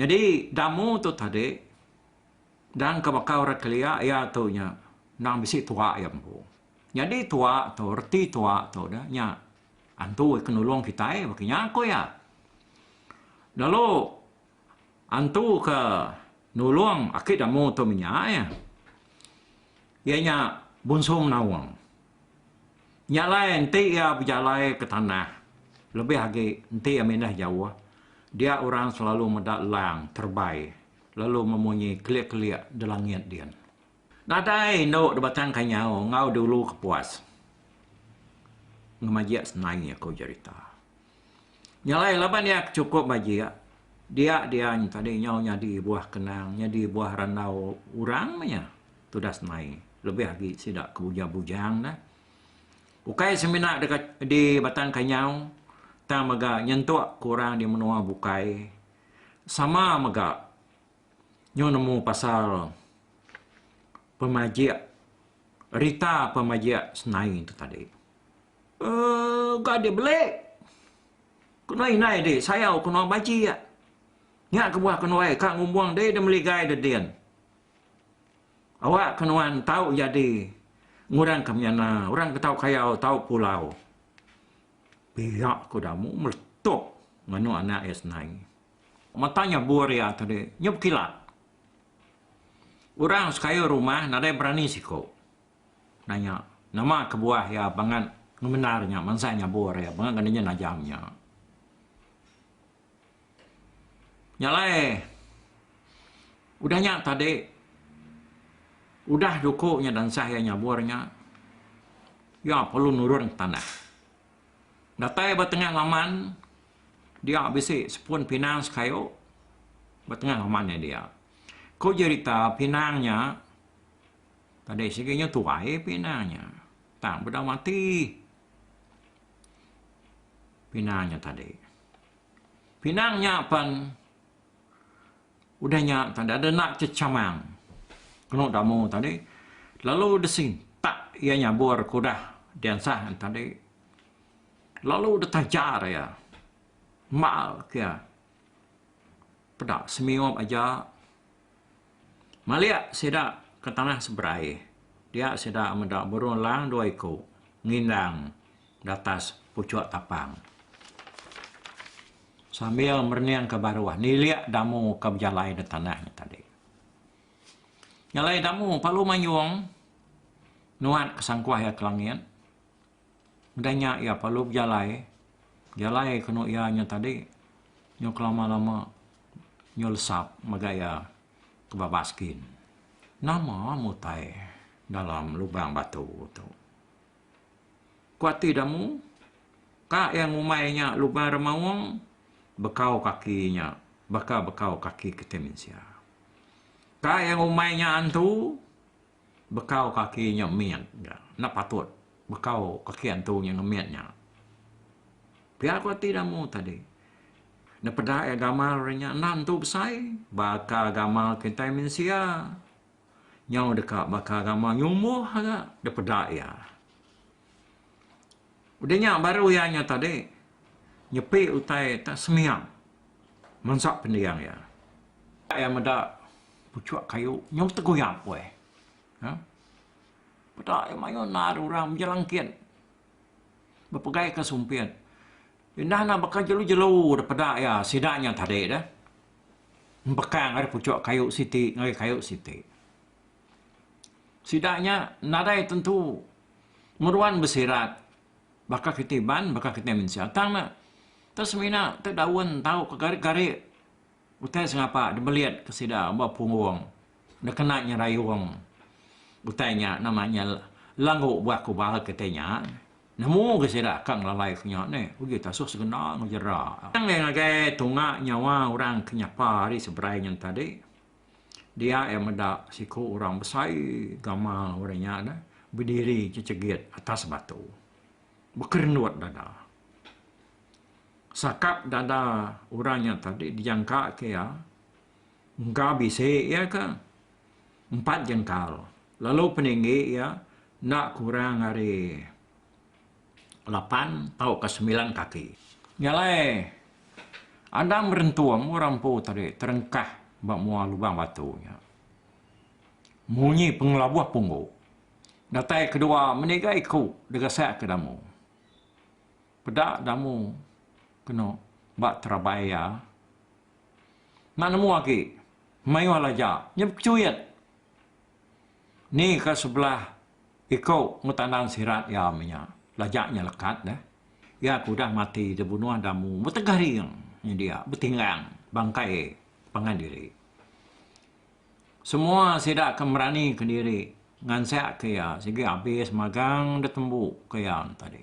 Nyadi damu tu tadi dan ke baka orang kelia iya tu nya endang bisi tua iya empu. Nyadi tua tu reti tua tu udah nya antu ke nulung kitai ba kinya ku iya. Lalu antu ke nulung aki damu tu menya iya. Iya nya Bungsu Menawang. Nya alai enti iya bejalai ke tanah lebih agi enti iya mindah jauh dia orang selalu meda lang terebai lalu memunyi kelik-kelik di langit din. Nadai indu di Batang Kanyau enggau di Ulu Kepuas ngemajik senai iya ku jerita. Nya alai laban iya ke chukup bajik dia dian tadi nyau nyadi buah kenang, nyadi buah randau orang meh iya. tudas mai lebih agi sida ke bujang-bujang dah. Ukai semina deka di Batang Kanyau tang mega nyentuk ke orang di menua bukai sama mega nyau nemu pasal pemajik rita pemajik Senain tu tadi. Uh, ga di beli. Kena indai di sayau kena bajik. Nya kebuah kena ai ka ngumbung dei de meligai de din. Awak ke nuan tau jadi ngurang ke menyana orang ke tau kayau tau pulau. Pia ku Damu meletup nganu anak iya senai. Mata nya bur iya tadi nya bekilat. Orang sekayu rumah nadai berani siku nanya nama kebuah iya bangat ngemendar nya mansa nya bur iya bangat ngena nya najam nya. Nya alai udah nya tadi udah juku nya dansah iya nyabur nya iya perlu nurun ke tanah datai ba tengah laman dia bisi sepun pinang sekayu ba tengah laman iya dia. Ku jerita pinang nya tadi sigi nya tuai pinang nya tang peda mati pinang nya tadi. Pinang nya pan udah nya tadi ada enda chechamang kenu damu tadi lalu disintak iya nyabur ke udah diansah tadi lalu ditajar iya mal ke iya peda semiup aja. Malik sida ke tanah seberai dia sida meda burung elang dua iku ngindang di atas puchuk tapang sambil mereningka baruh nilik damu ke bejalai di tanah nya tadi. Nyelai damu palu manyung nuat ke sangkuh iya ke langit. Udah nya iya perlu bejalai, jalai kenu iya nya tadi nyau kelama-lama nyau lesap mega iya ke ba baskin. Nama mutai dalam lubang batu tu. Ku ati da mu, ka iya ngumbai nya lubang remaung bekau kaki nya baka bekau kaki kitai mensia. Ka iya ngumbai nya antu. Bekau kaki nya mit ga. Enda patut bekau kaki antu nya enggau mit nya. Pia ko ti damu tadi. Nepeda iya gamal ari nya enda entu besai. Baka gamal kitai mensia nyau deka baka gamal nyumbuh ga dipeda iya. Udah nya baru iya nya tadi nyepi utai ta sembiang. Mansa pendiang iya, iya meda puchuk kayu nyau teguyap weh. Ha? Peda iya mayuh nal orang bejelangkit bepegaika sumpit. Indah ne baka jelu-jelu deh peda iya sida nya tadi deh. Empekang ari puchuk kayu siti ngagai kayu siti. Sida nya nadai tentu ngeruan besirat Baka kiti iban, baka kiti mensia. Tang ne, te semina te daun tau ke gari-gari utai sengapa dibelit ke sida ba punggung dikena nyerayung utai nya nama nya langgu buah kubal kiti nya nemu ga sida ka ngelalai ke nya neh uji te asuh segena ngejera. Tang deh ngagai tunga nyawa orang ke nyapa ari seberai nya tadi. dia iya meda siku orang besai gamal orang nya dah bediri chechegit atas batu bekerenut dada. Sakap dada orang nya tadi dijangka ke iya engka bisi iya ke empat jengkal lalu peninggi iya enda kurang ari lapan tauka semilan kaki. Nya alai, Adam berentung orang empu tadi terengkah ba mua lubang batu nya. Munyi pengelabuh punggu. Datai kedua meniga iku degasakka damu. Peda damu kenu ba terabai iya. Enda nemu agi mayuh laja nya bekechuit. Ni ka sebelah iko ngetandan sirat iya meh nya. Lajak nya lekat deh. Iya ke udah mati dibunuh damu betegah ring nyadi iya betinggang bangkai pangan diri. Semua sida ke merani ke diri ngansak ke iya sigi abis magang detembu ke iya tadi.